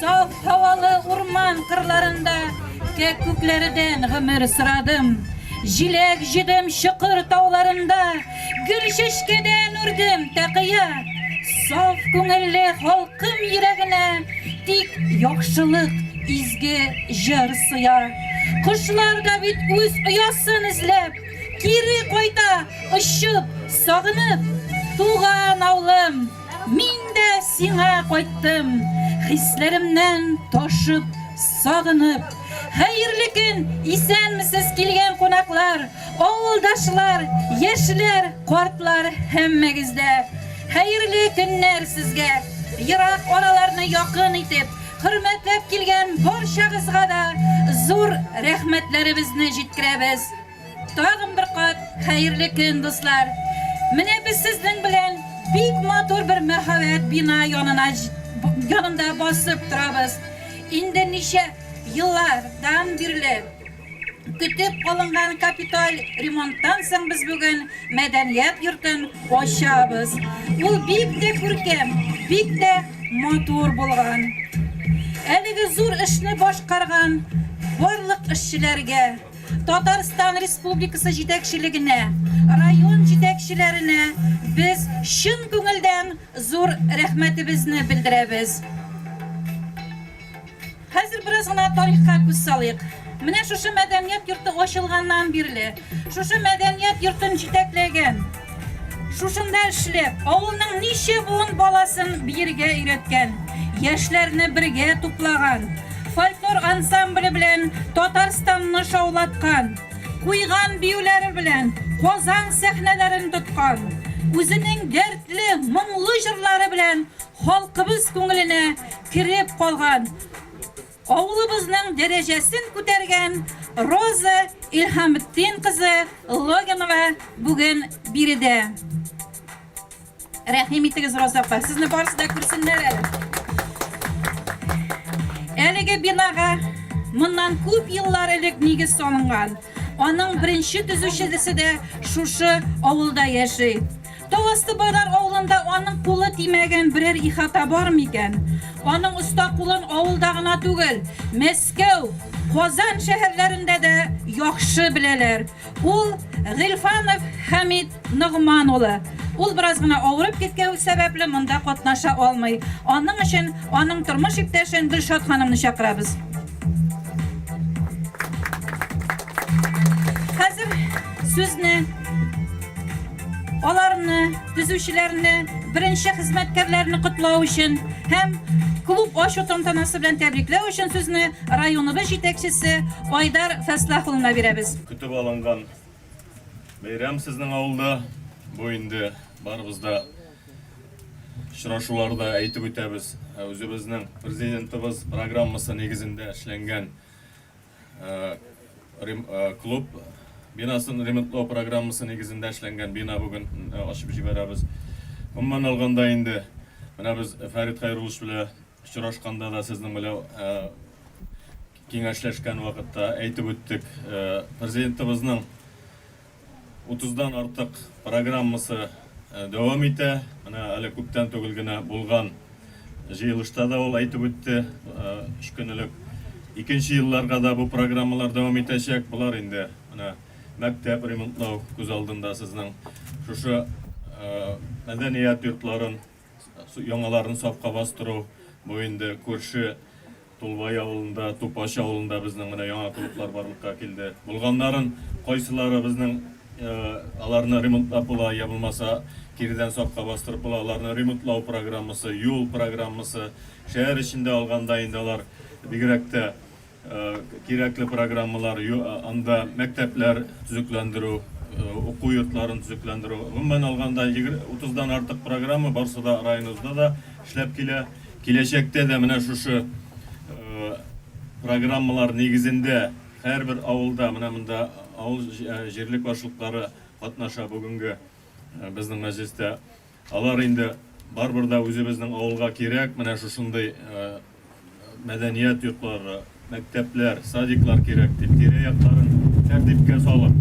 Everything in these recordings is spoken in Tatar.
Саф һавалы урман кырларында кәккүкләрдән гомер сорадым. Җиләк җыдым чокыр тауларында, гөл чәчкәдән үрдем тәкыя. Саф күңелле халкым йөрәгенә тик яхшылык изге җыр сыя. Кошлар да бит үз оясын эзләп, кире кайта, очып, сагынып, туган авылым. Мин дә сиңа кайттым, хисләремнән ташып, сагынып. Хәерле көн, исәнмесез килгән кунаклар, авылдашлар, яшьләр, картлар, һәммәгез дә. Хәерле көннәр сезгә, ерак араларны якын итеп, хөрмәтләп килгән барчагызга да зур рәхмәтләребезне җиткерәбез. Тагын бер кат хәерле көн, дуслар! Менә без сезнең белән бик матур бер мәһабәт бина янына янында басып торабыз. Инде ничә еллардан бирле көтеп калынган капиталь ремонттан соң без бүген мәдәният йортын ачабыз. Ул бик тә күркәм, бик тә матур булган. Әлеге зур эшне башкарган барлык эшчеләргә, Татарстан Республикасы җитәкчелегенә, район җитәкчеләренә без чын күңелдән зур рәхмәтебезне белдерәбез. Хәзер бераз гына тарихка күз салыйк. Менә шушы мәдәният йорты ачылганнан бирле, шушы мәдәният йортын җитәкләгән, Шушында эшләп, авылның ничә буын баласын биергә өйрәткән, яшьләрне бергә туплаган, фольклор ансамбле белән Татарстанны шаулаткан, куйган биюләре белән Казан сәхнәләрен тоткан, үзенең дәртле, моңлы җырлары белән халкыбыз күңеленә кереп калган Авылыбызның дәрәҗәсен күтәргән Роза Илһаметдин кызы Логинова бүген биредә. Рәхим итегез, Роза апа, сезне барысы да күрсеннәр әле. Әлеге бинага моннан күп еллар элек нигез салынган. Аның беренче төзүчесе дә шушы авылда яши. Тау асты байлар авылында аның кулы тимәгән берәр ихата бар микән? Аның оста кулын авылда гына түгел, Мәскәү, Казан шәһәрләрендә дә яхшы беләләр. Ул, Гыйльфанов Хәмит Ногман улы. Ул бераз гына авырып киткәү сәбәпле монда катнаша алмый. Аның өчен аның тормыш иптәшен Гөлшат ханымны чакырабыз. Хәзер сүзне. Аларны, төзүчеләрне, беренче хезмәткәрләрне котлау өчен һәм клуб ачу тантанасы белән тәбрикләү өчен сүзне районыбыз җитәкчесе Айдар Фәслах улына бирәбез. Көтеп алынган бәйрәм сезнең авылда. Бу инде барыбыз да очрашуларда әйтеп үтәбез, үзебезнең Президентыбыз программасы нигезендә эшләнгән Клуб бинасын ремонтлау программасы нигезендә эшләнгән бина бүген ачып җибәрәбез. Гомумән алганда инде, менә без Фәрит Хәйруллович белән очрашканда да, сезнең белән киңәшләшкән вакытта әйтеп үттек. Президентыбызның Утыздан артык программасы дәвам итә. Менә әле күптән түгел генә булган җыелышта да ул әйтеп үтте, өч көн элек. Икенче елларга да бу программалар дәвам итәчәк. Болар инде менә мәктәп ремонтлау күз алдында сезнең. Шушы мәдәният йортларын Яңаларын сафка бастыру, бу инде күрше Тулбай авылында, Тупач авылында безнең менә яңа клублар барлыкка килде. Булганнарын кайсылары безнең аларны ремонтлап була, я булмаса кирдән сафка бастырып була, аларны ремонтлау программасы, юл программасы, шәһәр эчендә алганда инде алар бигрәк тә Кирәкле программалар анда мәктәпләр төзекләндерү, уку йортларын төзекләндерү. Гомумән алганда, 30 дан артык программа барысы да районыбызда да эшләп килә. Киләчәктә дә менә шушы программалар нигезендә һәрбер авылда, менә монда авыл җирлек башлыклары катнаша бүгенге безнең мәҗлестә. Алар инде барыбер дә үзебезнең авылга кирәк, менә шушындый мәдәният йортлары, мәктәпләр, садиклар кирәк дип, тирә-якларын тәртипкә салып,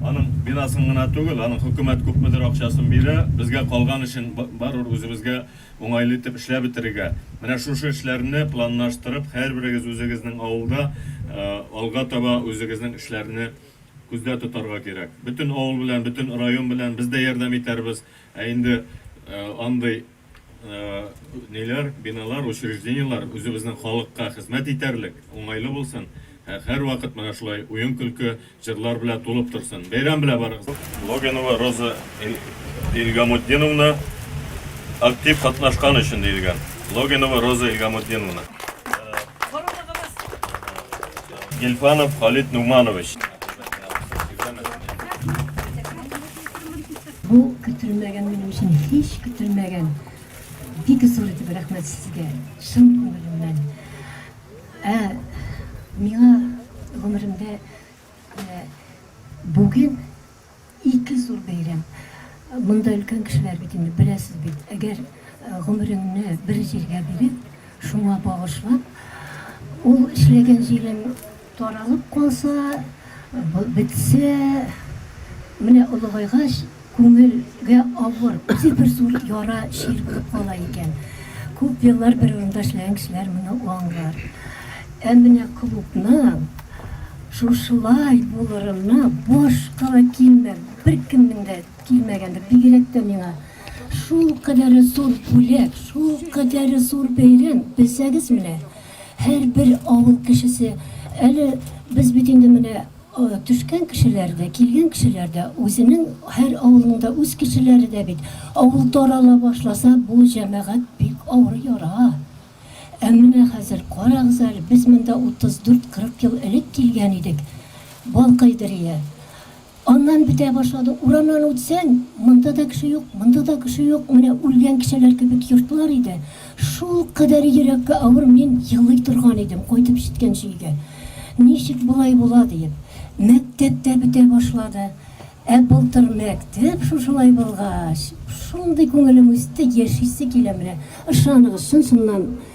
аның бинасын гына түгел, аның хөкүмәт күпмедер акчасын бирә, безгә калган эшен барыбер үзебезгә уңайлы итеп эшләп бетерергә. Менә шушы эшләрне планлаштырып, һәрберегез үзегезнең авылда алга таба үзегезнең эшләрне күздә тотарга кирәк. Бөтен авыл белән, бөтен район белән без дә ярдәм итәрбез. Ә инде андый ниләр, биналар, учреждениеләр үзебезнең халыкка хезмәт итәрлек, уңайлы булсын, һә һәрвакыт менә шулай уен-көлке, җырлар белән тулып торсын. Бәйрәм белән барыгыз! Логинова Роза Илгамутдиновна актив катнашкан өчен диелгән. Логинова Роза Илгамутдиновна. Гильфанов Халит Нуманович. Бу көтелмәгән минем өчен һич көтелмәгән бик зур итеп рәхмәт сезгә чын күңелемнән. Ә миңа гомеремдә ә, бүген ике зур бәйрәм. Монда өлкән кешеләр бит инде беләсез бит. Әгәр э, гомереңне бер җиргә биреп, шуңа багышлап, ул эшләгән җирем Таралып калса, бетсә, менә олыгайгач, күңелгә авыр, үзе бер зур яра, чир булып кала икән. Күп еллар бер урында эшләгән кешеләр моны аңлар. Ә менә клубның шушылай булырына башка да килмәм, беркемнең дә килмәгәндер, бигрәк тә миңа. Шулкадәре зур бүләк, шулкадәре зур бәйрәм, белсәгез менә, Һәрбер авыл кешесе, әле без бит инде менә төшкән кешеләр дә, килгән кешеләр дә, үзенең һәр авылның да үз кешеләре дә бит. Авыл тарала башласа, бу җәмәгать бик авыр яра. Ә менә хәзер, карагыз әле, без монда 34-40 ел элек килгән идек, Балкайдырия. Аннан бетә башлады. Урамнан үтсәң, монда да кеше юк, монда да кеше юк, менә үлгән кешеләр кебек йортлар иде. Шулкадәр йөрәккә авыр, мин елый торган идем, кайтып җиткәнче өйгә. Ничек болай була диеп. Мәктәп тә бетә башлады. Ә былтыр мәктәп шушылай булгач, шундый күңелем үсте, яшисе килә менә. Ышаныгыз, чын-чыннан.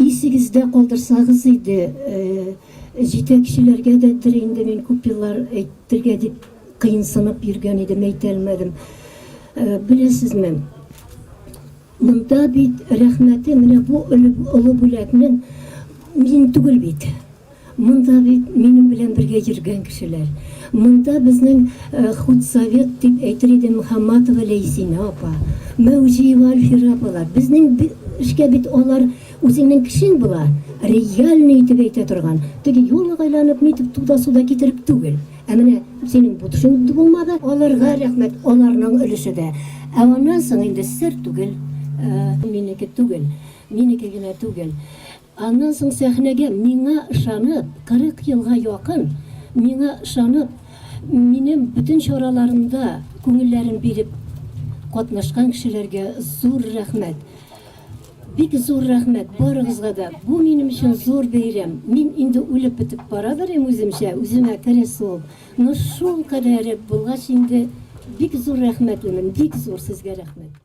Исегездә калдырсагыз иде, җитәкчеләргә дә дер инде мин күп еллар әйтергә дип кыенсынып йөргән идем, әйтәлмәдем. Беләсезме, монда бит рәхмәте менә бу олы бүләкнең мин түгел бит. Монда бит минем белән бергә йөргән кешеләр. Монда безнең худсовет дип әйтер идем Мөхәмматова Ләйсинә апа, Мәүҗиева Альфира апалар. Безнең эшкә бит алар үзеңнең кешең була, реальный итеп әйтә торган. Теге юлык айланып нитеп туда-суда китереп түгел. Ә менә синең бу төшең булмады. Аларга рәхмәт, аларның өлеше дә. Ә аннан соң инде сер түгел, минеке түгел, минеке генә түгел. Аннан соң сәхнәгә миңа ышанып, 40 елга якын миңа ышанып, минем бөтен чараларымда күңелләрен биреп катнашкан кешеләргә зур рәхмәт! Бик зур рәхмәт барыгызга да! Бу минем өчен зур бәйрәм. Мин инде үлеп бетеп бара берим үземчә, үземә кресло, но шул кадәре булгач инде бик зур рәхмәтлемен, бик зур сезгә рәхмәт!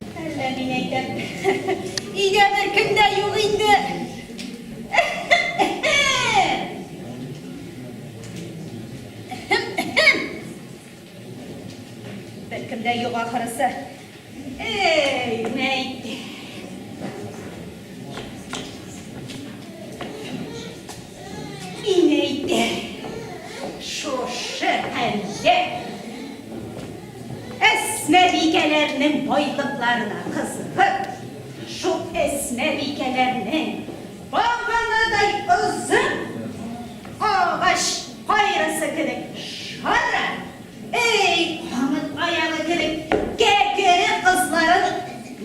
Әллә мин әйтәм. Өйгә беркем дә юк инде. Беркем дә юк ахырысы. Эй, мәйт. Мин әйтәм, шушы әллә әсмәбикәләрнең байлыкларына кызыгып, шул әсмәбикәләрнең баганадай озын агач кайрысы кебек шара, эй, камыт аяғы кебек кәкере кызларын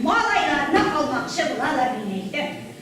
малайларына алмакчы булалар, мин әйтәм.